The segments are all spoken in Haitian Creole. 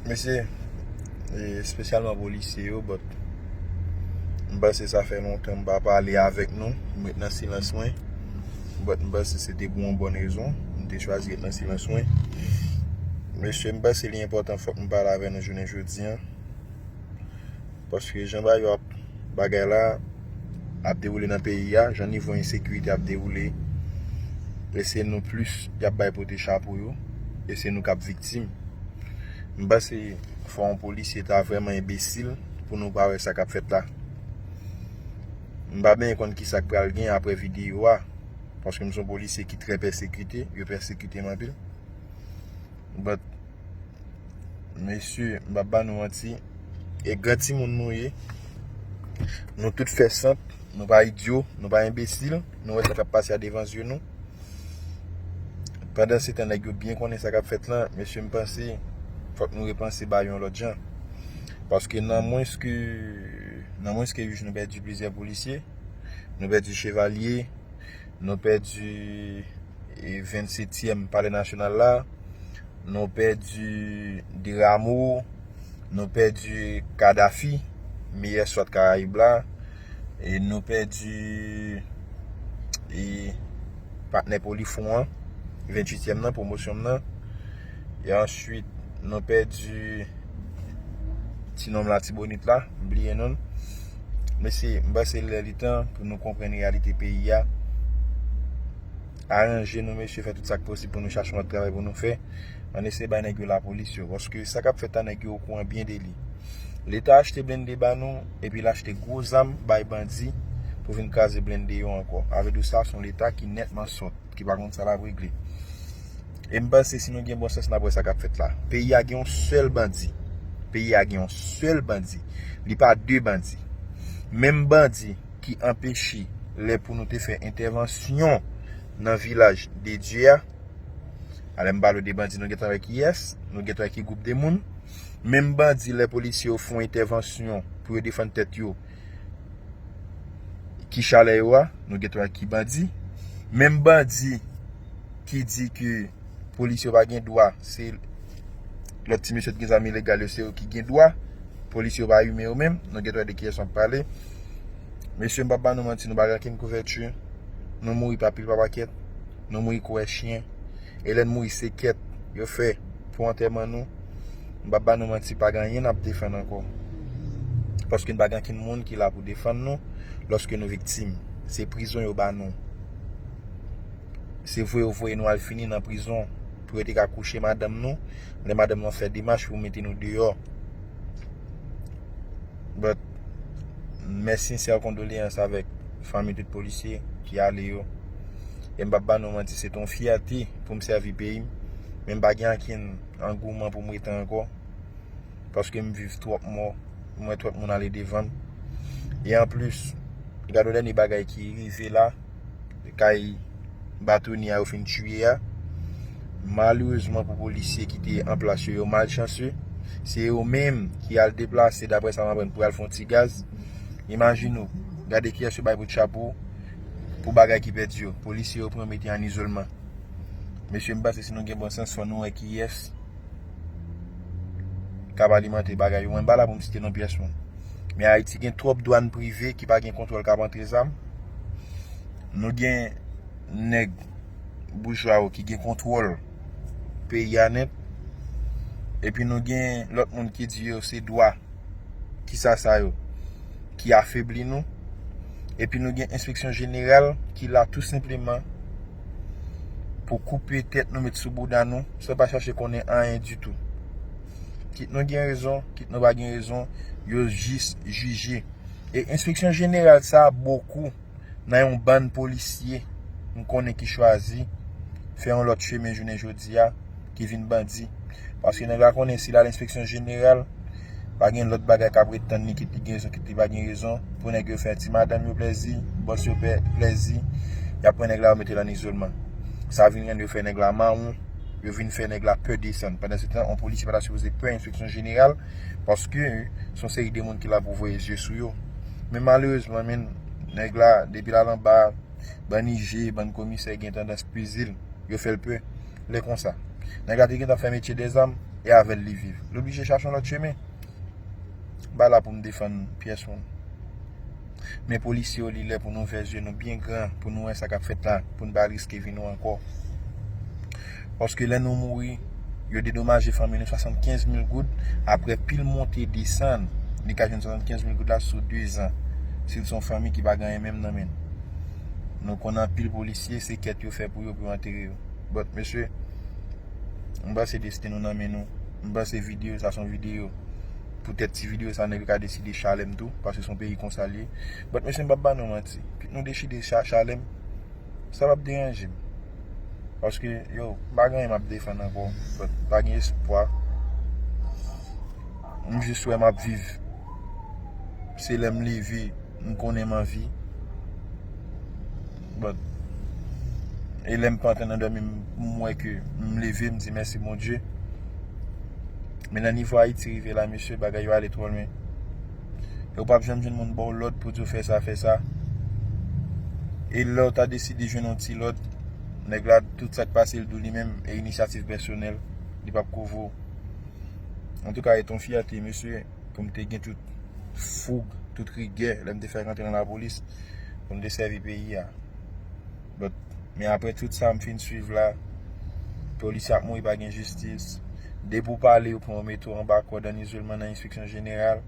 Mesi espesyalman polisye yo but m panse sa fè lontan m pa pale avèk nou m ret nan silans mwen but m panse se te pou yon bon rezon m te chwazi ret nan silans mwen mesye m panse li enpòtan fòk m pale avèk nou jounen jodi an. Paske jan bagay yo ap bagay la ap dewoule nan peyi a, jan nivo ensekirite ap dewoule e se nou plis y ap bay pote chapo yo e se nou k ap viktim. M panse fò yon polisye ta vrèman enbesil pou nou pa wè sa k ap fèt la. M pa benyen konn ki sa k pral gen apre videyo a paske m se yon polisye ki trè pèsekite, yo pèsekite m anpil but. Mesye, m pa ba nou manti, e gran timoun nou ye, nou tout fè sant, nou pa idyo, nou pa enbesil, nou wè sa kap pase a devan zye nou. Pandan se tan nèg yo byen konnen sa kap fèt lan, mesye m panse, fòk nou repanse bagay yo yon lòt jan. Paske nan mwens ke, nan mwens ke 8 jou nou pèdi plizyè polisye, nou pèdi chevalye. Nou pèdi 27 tièm palè nasyonal la, nou pèdi Diramo, nou pèdi Kadafi, meyè swat karayib la, e nou pèdi e patnè pou li fon an, 28 tièm nan, pwomosyon m nan, e answit nou pèdi ti nonm latibonit la, m bliye nonl. Mesye, m panse lè li tan pou nou konprann reyalite peyi a. Aranje nou mesye, fè tout sa k posib pou nou chache yon lòt travay pou nou fè. An eseye bay nèg yo lapolis yo. Paske sa k ap fèt la, nèg yo okouran byen de li. Leta achte blende ba nou, epi l achte gwo zam bay bandi pou vin kraze blende yo ankò. Avèdou sa, s on Leta ki nètman sòt. ki pa konn sa lap regle e m panse si nou gen bon sans nap wè sa kap fèt la peyi a gen yon sèl bandi peyi a gen yon sèl bandi li pa de bandi menm bandi ki anpeche lè pou nou te fè entèvansyon nan vilaj de Dye a a lè m pale w de bandi nou gentan wè kiyès nou gentan wè ki gwoup de moun menm bandi lè polisye yo fon entèvansyon pou yo defann tèt yo Ki chalè yo a, nou gen twa ki bandi. Menm bandi ki di ke polisye yo pa gen dwa, se lòt ti mesye ki gen zam ilegal yo, se yo ki gen dwa. Polisye yo pa imen yo menm. Nou gen twa de kiyès m ap pale. Mesye m pa ba nou manti, nou pa gen okenn kouvèti. Nou mouri pa pil pa pakèt. Nou mouri kouwè chyen. E lè n mouri se kèt yo fè pou antèman nou. M pap ba nou manti pa gen anyen n ap defann ankò. Paske n pa gen ankenn moun ki la pou defann nou lòske nou viktim. Se prizon yo ba nou. Se vwe yo voye nou al fini nan prizon pou yo te ka kouche madanm nou lè madanm nou ap fè demach pou mete nou deyò. But, mè sinsè kondoleyans avèk fanmi tout polisye ki ale yo. E m pap ba nou manti se te yon fyète pou m sèvi peyi m. Men m pa gen ankenn. Angouman pou m rete ankò. Paske m viv twòp mò. M wè twòp moun ale devan m. E anplis, gad yon dènye bagay ki rive la. Kay batonye a yo fin tiye a. Malerezman pou polisye ki te an plas yo, yo malchanse. Se yo menm ki al deplase dapre sa m aprann pou yo al fè yon ti gaz. Imajine ou, gade kiyès yo bay kout chapo pou bagay ki pèdi yo. Polisye yo pran yo mete yo an izolman. Mesye m panse si nou gen bon sans fò nou wè kiyès k ap alimante bagay yo. Mwen m pa la pou m site non pyès moun. Men Ayiti gen twòp dwàn prive ki pa gen kontwòl k ap antre zam. Nou gen nèg boujwa yo ki gen kontwòl peyi a nèt. Epi nou gen lòt moun ki di yo se dwa ki sa sa yo ki afebli nou. Epi nou gen enspeksyon jeneral ki la tou senpleman pou koupe tèt nou met sou bouda nou san pa chache konnen anyen ditou. Kit nou gen rezon, kit nou pa gen rezon, yo jis jije. E enspeksyon jeneral sa a bokou nan yon bann polisye m konnen ki chwazi fè yon lòt chemen jounen jodi a. ki vin bandi. Paske nèg la konnen si l al enspeksyon jeneral, pa gen lòt bagay k ap ret tann li kit li gen rezon kit li pa gen rezon pou nèg yo fè ti madanm yo plèzi, bòs yo fè plèzi, y ap pran nèg la yo mete l ann izolman. Sa vin rann yo fè nèg la mawon, yo vin fè nèg la pè desann. Pandansetan, yon polisye pa ta sipoze pè enspeksyon jeneral paske se yon seri de moun ki la pou voye zye sou yo. Men malerezman men, nèg la depi l al anba, bann ije, bann komisè gen tandans pezi l, yo fè l pè. lè konsa. Nèg la te gentan fè metye de zam e avèl li viv. Li oblije chache yon lòt chemen. Mpa la pou m defann pyès moun. Men polisye yo li lè pou nou ouvè zye nou byen gran pou nou wè sa kap fèt la pou n pa riske vi nou ankò. Paske lè nou mouri, yo dedomaje fanmi nou 75 mil goud aprè pil monte desann li ka jwenn 75 mil goud la sou 2 zan. Si l son fanmi ki pa gen anyen menm nan men l. Nou konn anpil polisye se kèt yo fè pou yo pou yo antere yo. But mesye M pase desten nou nan men nou M pase video sa son video Pou tèt ti video sa nèg yo ka deside chalèm tou Paske son peyi konsa liye But mesye m pap ba nou manti Kit nou dechide chalèm Sa pap deranje m Paske yo M pa gen anyen map defann anko But m pa gen espwa M jis wè map viv Se lèm leve m konnen m anvi but e lè m pa antre nan dòmi m wè ke m leve m di mèsi Bondye men nan nivo Ayiti rive la mesye bagay yo ale twò lwen e ou pap janm jwenn moun ba w lòd pou di w fè sa fè sa e lè w ta deside jwenn yon ti lòd nèg la tout sa k pase l di w li menm e inisyativ pèsonèl li pap ko vo antouka e t yon fyète mesye. pou m te gen tout foug, tout rigè lè m te fèk antre nan lapolis pou m te sèvi peyi a. But, men apre tout sa m fin swiv la, polisye ap mouri pa gen jistis, depi ou pale yo pran yo mete w anba kòd an izolman nan enspeksyon jeneral.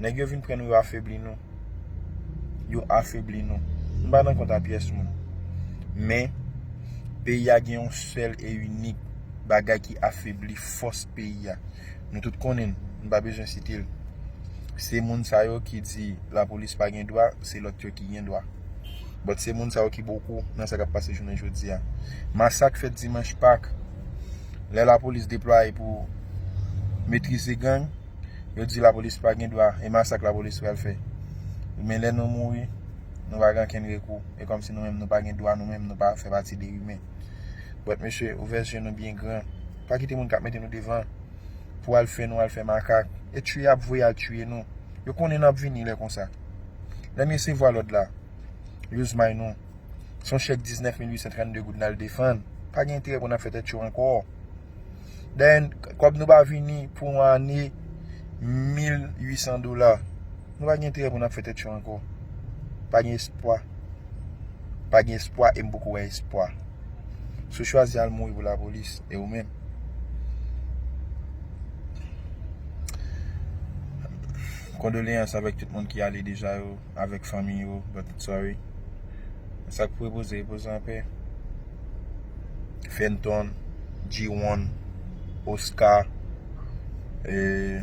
Nèg yo vin pran nou yo afebli nou. Yo afebli nou. M pa nan kont a pyès moun. Men, peyi a gen yon sèl e inik bagay ki afebli fòs peyi a. Nou tout konnen l, m pa bezwen site l. Se moun sa yo ki di lapolis pa gen dwa, se lòt yo ki gen dwa. But se moun sa yo ki boukou nan sa k ap pase jounen jodi a. Masak fèt dimanch pak, lè lapolis deplwaye pou metrize gang, yo di lapolis pa gen dwa e masak lapolis pral fè. Men lè nou mouri, nou pa gen ankenn rekou. E kòm si nou menm nou pa gen dwa, nou menm nou pa fè pati de imen. But mesye, ouvè zye nou byen gran. Pa kite moun kap mete nou devan pou al fè nou al fè makak. E tuye yap voye al tuye nou. Yo konnen nap vini lè konsa. Lèm resevwa lòd la, yo zmay nou. Son chèk 19 mil 832 goud nal defann. Pa gen enterè pou nap fè tèt cho ankò. Dèyè kòb nou pa vini pou yon ane 1800 dola. Nou pa gen enterè pou n ap fè tèt yo ankò. Pa gen espwa. Pa gen espwa e m poko wè espwa. Si w chwazi al mouri pou lapolis, e ou menm? Kondoleyans avèk tout moun ki ale deja yo, avèk fanmi yo, but sorry. Sa k pou repoze, repoze an pè. Fenton, G-one, Oscar, eee.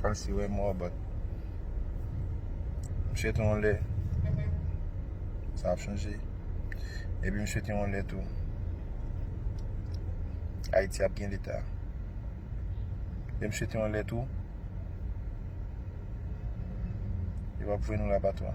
Kasi wè mò but misye te yon lè sa ap chanje epi misye te yon lè tou Ayiti ap gen leta epi misye te yon lè tou yo pap voye nou la batwa.